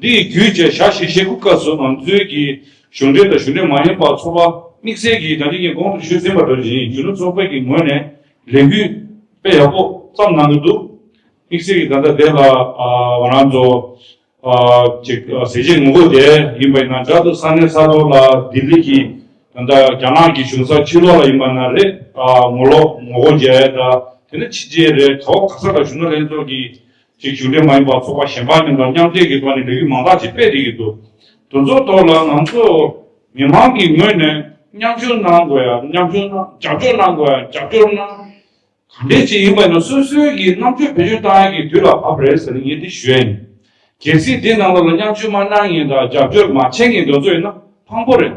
འདི་ཡི་བརྒྱུད་བཅས་ཞག་ཞེ་བཞི་དགུ་སྐབས་སུ་ཨམ་གཙོས་ཀྱི་གཞུང་འབྲེལ་དང་གཞུང་འབྲེལ་མ་ཡིན་པ་ཚོགས་པ་དམིགས་བསལ་གྱིས་དང་ཐིག་གིས་དགོངས་དོན་ཞུས་ཟིན་པ་འདྲ་བཞིན་གཞོན་ནུ་ཚོགས་པའི་གི་ངོས་ནས་ལས་འགུལ་སྤེལ་ཡག་པོ་ཙམ་གནང་གི་འདུག་དམིགས་བསལ་གྱིས་ད་ལྟ་དེ་ལ་ང་རང་ཚོ་གཅིག་ཟས་བཅད་ངོ་རྒོལ་དེ་ཡིན་པ་ཡིན་ན་འདྲ་འདུག་ས་གནས་ས་ཐོག་ལ་ལྡི་ལི་གྱི་ད་ལྟ་རྒྱ་ནག་གི་གཞུང་ས་ཕྱི་ལོགས་ལ་ཡིན་པ་ན་རེད་ངོ་ལོག་ངོ་རྒོལ་བྱས་ད་དེ་ནི་ཕྱི་རྗེས་རེད་ག་བ་ག་ས་ལ་གཞོན་ནུ་ལྷན་ཚོགས་ཀྱི་གཅིག་གཞུང་འབྲེལ་མ་ཡིན་པ་ཚོགས་པ་གཞན་པ་རྣམས་དང་མཉམ་འབྲེལ་གྱི་ཐོག་ནས་ལས་རིགས་མང་དག་ཅིག་སྤེལ་ཏེ་ཡོད་འདུག་དེ་ཚོའི་ཐོག་ལ་ང་ཚོ་མི་མང་གི་ངོས་ནས་མཉམ་ཞུགས་གནང་དགོས་ཡ་མཉམ་ཞུགས་གནང་རྒྱབ་སྐྱོར་གནང་དགོས་ཡ་རྒྱབ་སྐྱོར་གནང། ག་འདྲའི་ཆེད་ཡིན་པ་ཡིན་ན་སོ་སོའི་གི་རྣམ་དཔྱོད་བེད་སྤྱོད་གཏང་ཡ་གི་དུས་ལ་བབ་པ་རེད་ཟེར་ནས་ངས་དེ་ཞུ་ཡ་ཡིན། གལ་སྲིད་དེ་རྣམས་ལ་ལ་མཉམ་ཞུགས་མ་གནང་ངེས་དང་རྒྱབ་སྐྱོར་མ་བྱེད་ངེས་འདོད་ཚོད་ཡིན་ན་ཕངས་པོ་རེད།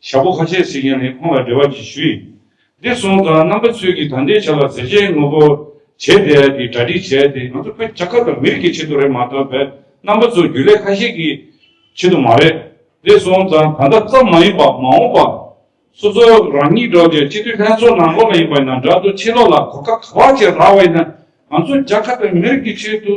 ཞྭ་ཕོ་ཁ་ཤས་ཟེར་མཁན་ནི་ཁོང་ལ་འབྲེལ་བ་གྱི་ཞུ་ཡིག་འདི་སོང་ཙང་རྣམ་པ་ཚོས་ཀྱིས་ད་འདྲའི་བྱ་བར་ཟེར་བྱའི་ངོ་བོ་བྱས་བསྡད་ཀྱི་གྲ་སྒྲིག་བྱས་ཏེ་ང་ཚོ་བོད་ཆ་ཁ་དང་མི་རིགས་ཀྱི་ཆེད་དུ་རེད་མ་གཏོགས་བོད་རྣམ་པ་ཚོ་རྒྱུ་ལས་ཁ་ཤས་ཀྱི་ཆེད་དུ་མ་རེད། འདི་སོང་ཙང་ད་ལྟ་ཙམ་མ་ཡིན་པར་མ་འོངས་པར་སོ་སོ་རང་ཉིད་འགྲོ་རྒྱུའི་སྤྱི་འཐུས་ལྷན་ཚོགས་ནང་ལོག་ལ་ཡིན་པ་ཡིན་ན་འདྲ་འདུག་ཕྱི་ལོག་ལ་གོ་སྐབས་ག་བར་བྱས་རག་བ་ཡིན་ན་ང་ཚོ་རྒྱ་ཁ་དང་མི་རིགས་ཀྱི་ཆེད་དུ་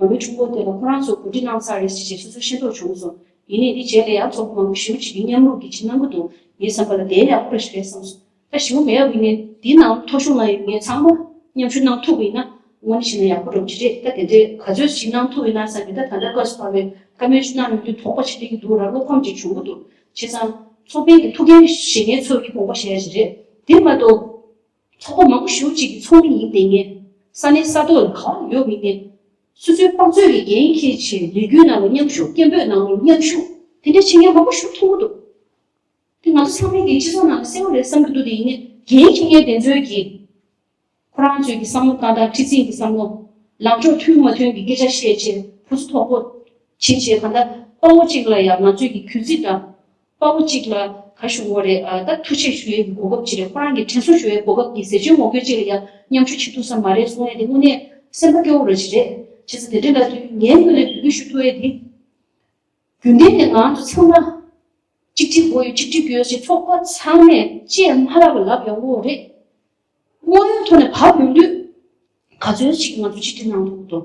ང་མི་ཕྲུག་པོ་དེ་ལ་ཁོ་རང་ཚོས་གོ་སྒྲིག་གནང་ས་རེད་ཅེས་བྱས་སོ་སོའི་ཤེས་རྟོགས་བྱུང་སོང། ཡིན་ནས་འདི་བྱས་ཏེ་ཡག་ཚོགས་པ་མང་པོ་ཞི་བོ་བྱེད་རྒྱུ་མཉམ་རུབ་ཀྱིས་བྱེད་གནང་གི་འདུག་ངའི་བསམ་པ་ལ་དེའི་ཡག་པོ་རེ་ཞིག་རེད་བསམ་སོང། ད་ཞི་བོ་མེད་ཡག་པོ་ཡིན་ནས་འདིའི་ནང་ཐོ་གཞུང་ན་ཡོད་མཁན་ཚང་མ་མཉམ་ཞུགས་གནང་ཐུབ་པ་ཡིན་ན་དངོས་གནས་བྱས་ན་ཡག་པོ་འགྲོ་གི་རེད་ད་དེ་འདྲའི་ག་ཚོད་ཞིག་གནང་ཐུབ་ཡོད་ན་བསམ་མི་ད་ད་ལྟ་བཀའ་ཟུར་བ་བས་བཀའ་མོལ་ཅིག་གནང་ཡོང་དུས་དོགས་པ་བྱེད་བསྡད་ཀྱི་འདུག་ར་བློ་ཕམ་ཅིག་བྱུང་གི་འདུག་བྱས་ཙང། ཚོགས་པའི་གི་ཐུགས་འགན་བཞེས་མཁན་ཚོས་ཀྱི་དགོངས་པ་བཞེས་ཡ་ཞིག་རེད་དེ་མ་གཏོགས། ཚོགས་པ་མང་པོ་ཞུགས་གཅིག་གི་ཚོགས་མི་ཡིན་ཏེ་ངས་ས་གནས་ས་ཐོག་ལ་ག་འོག་ཡོད་མི་སྟེ། སུ་ཚོད་དཔག་ཚོད་ཀྱི་འགན་འཁྱེར་ཕྱིར་ལས་རྒྱུན་ནང་ལ་མཉམ་ཞུགས་སྐད་འབོད་ནང་ལ་མཉམ་ཞུགས་དེ་འདྲའི་བྱེད་མཁན་མང་པོ་ཞུགས་ཐུབ་མོ་འདུག་དེ་ང་ཚོ་ཚང་མས་ཀྱི་སྤྱི་ཚོགས་ནང་ལ་གསལ་བོ་རེད་བསམ་གྱི་འདུག་དེ་ཡིན་ནའི་འགན་འཁྱེར་མཁན་དེ་ཚོའི་གི་ཁོ་རང་ཚོའི་གི་བསམ་བློ་ཏག་ཏག་ཁྲི་འཛིན་གི་བསམ་བློ་ལངས་ཕྱོགས་མཐུན་མ་མཐུན་གི་སྐད་ཆ་བཤད་ཕྱིར་བུ་ཚོ་དོག་པོ་བྱེད་བྱེད་ག་འདྲ་དཔའ་བོ་གཅིག་ལ་ཡང་ང་ཚོས་གི་གུས་བརྩི་འདྲ་དཔའ་བོ་གཅིག་ལ་གར་ཞུ་འོ་རེད་ད་ཐུགས་ཆེ་ཞུ་ཡའི་གོ་སྐབས་ཅི་རེད་ཁོ་རང་གི་དྲན་གསོ་ཞུ་ཡའི་གོ་སྐབས་འདི་ཟེར་ཆོས་ངོ་རྒོལ་ཅིག་ལ་ཡང་མཉམ་ཞུ་བྱེད་ཐུབ་ས་མ་རེད་གསུང་ཡ་དེ་དངོས་གནས་སེམས་པ་སྐྱོ་བོ་ར་ཅིག་རེད་བྱས་ས་དེ་འདྲས་འདྲ་དུས་ངས་དངོས་ནས་འབུལ་འགྱོད་ཞུ་ཐུབ་ཡ་དེ་རྒྱུན་ལྡན་ནས་ངང་དུ་ཚང་མ་གཅིག་སྒྲིལ་དགོས་ཡོད་གཅིག་སྒྲིལ་དགོས་ཡོད་ཅེས་ཚོགས་པ་ཚང་མས་ཅེས་མ་ལབ་པ་ལབ་ཡོང་གི་རེད། དངོས་ཡོད་ཐོག་ནས་བབ་ཡོང་དུས་ག་ཚོད་ཅིག་ང་ཚོ་གཅིག་སྒྲིལ་གནང་ཐུབ་ཀི་འདུག།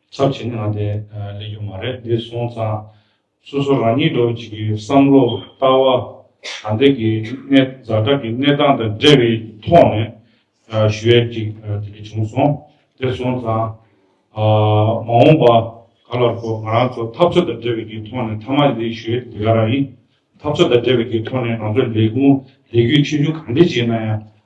ཚབ་བྱེད་ནའང་དེ་ལས་རྒྱུ་མ་རེད་འདི་སོང་ཙང་སོ་སོ་རང་ཉིད་འགྲོ་བྱེད་ཀྱི་བསམ་བློ་ལྟ་བ་དང་དེ་གི་གནས་གཟའ་སྐྲག་གི་གནས་སྟངས་དང་འབྲེལ་བའི་ཐོག་ནས་ཞུ་ཡས་ཅིག་དེ་གི་བྱུང་སོང་དེ་སོང་ཙང་མ་འོངས་པ་ག་ལ་རོགས་ང་རང་ཚོ་འཐབ་རྩོད་དང་འབྲེལ་བའི་གི་ཐོག་ནས་མཐའ་མ་ལས་ཞུ་ཡས་དེ་ག་རང་ཡིན་འཐབ་རྩོད་དང་འབྲེལ་བའི་གི་ཐོག་ནས་ང་ཚོ་ལས་ཁུངས་ལས་གུས་ཆེ་ཆུང་གང་འདྲས་བྱས་ན་ཡང